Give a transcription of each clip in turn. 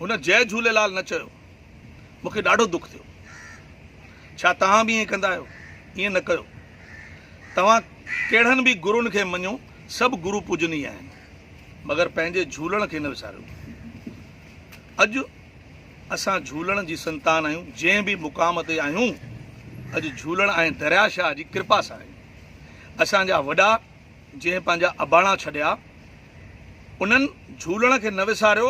هن جئه جهوليلال نه چيو. مون کي ڏاڍو دک ٿيو. ڇا توهان به ائين ڪندا آهيو؟ ائين نه ڪيو. توهان ڪهڙن به گرون کي مڃو، سڀ گرو پوجنيء آهن. مگر پنهنجي جهولڻ کي نه وساريو. اڄ اسان جهولڻ جي سنتان آهيون، جنهن به مقام تي آهيون، اڄ جهولڻ ۽ دريا شاهه جي ڪرپا سان آهيون. اسان جا وڏا. جنهن پنهنجا اباڻا ڇڏيا، انهن جهولڻ کي نه وساريو،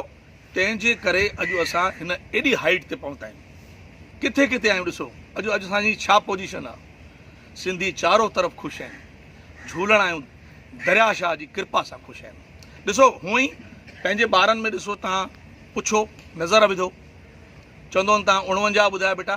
تنهن جي ڪري اڄ اسان هن ايڏي هائيٽ تي پهتا آهيون. ڪٿي ڪٿي آهيون ڏسو اڄ اڄ اسان جي ڇا پوزيشن آ. سنڌي چارو طرف خوش آهن. جهولڻ آهيون دريا شاهه جي ڪرپا سان خوش آهيون. ڏسو هونء ئي پنهنجي ٻارن ۾ ڏسو تان پڇو نظر وڌو چوندون تان اڻونجاهه ٻڌايا بيٽا.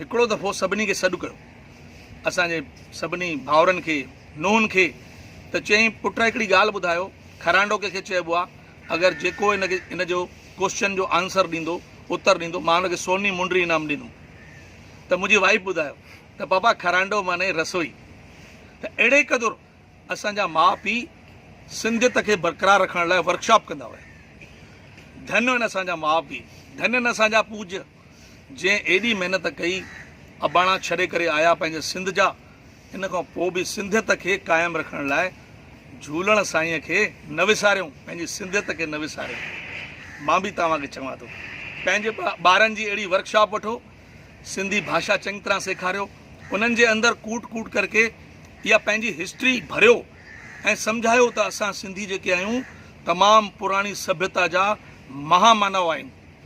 هڪڙو دفعو سڀني کي سڏ ڪيو، اسان جي سڀني ڀائرن کي، نونهن کي، ته چيائين، پٽ هڪڙي ڳالهه ٻڌايو، کرانڊو ڪنهن کي چئبو آ؟ اگر جيڪو هن کي هن جو ڪوسچن جو آنسر ڏيندو، اتر ڏيندو، مان هن کي سوني منڊري انعام ڏيندم. ته منهنجي وائيف ٻڌايو ته پاپا کرانڊو معني رسوئي. ته اهڙي قدر اسان جا ماء پيء سنڌيت کي برقرار رکڻ لاء ورڪشاپ ڪندا هيا. ڌن هن اسان جا ماء پيء، ڌن هن اسان جا پوڄ. جنهن ايڏي محنت ڪئي، اباڻا ڇڏي ڪري آيا پنهنجي سنڌ جا، ان کان پوء به سنڌيت کي قائم رکڻ لاء جهولڻ سائينء کي نه وساريون، پنهنجي سنڌيت کي نه وساريون. مان به توهان کي چوان ٿو، پنهنجي ٻارن جي اهڙي ورڪ شاپ وٺو، سنڌي ڀاشا چڱي طرح سيکاريو، انهن جي اندر ڪوٽ ڪوٽ ڪرڪي اها پنهنجي هسٽري ڀريو ۽ سمجهايو ته اسان سنڌي جيڪي آهيون، تمام پراڻي سڀيتا جا مها مانائو آهيون.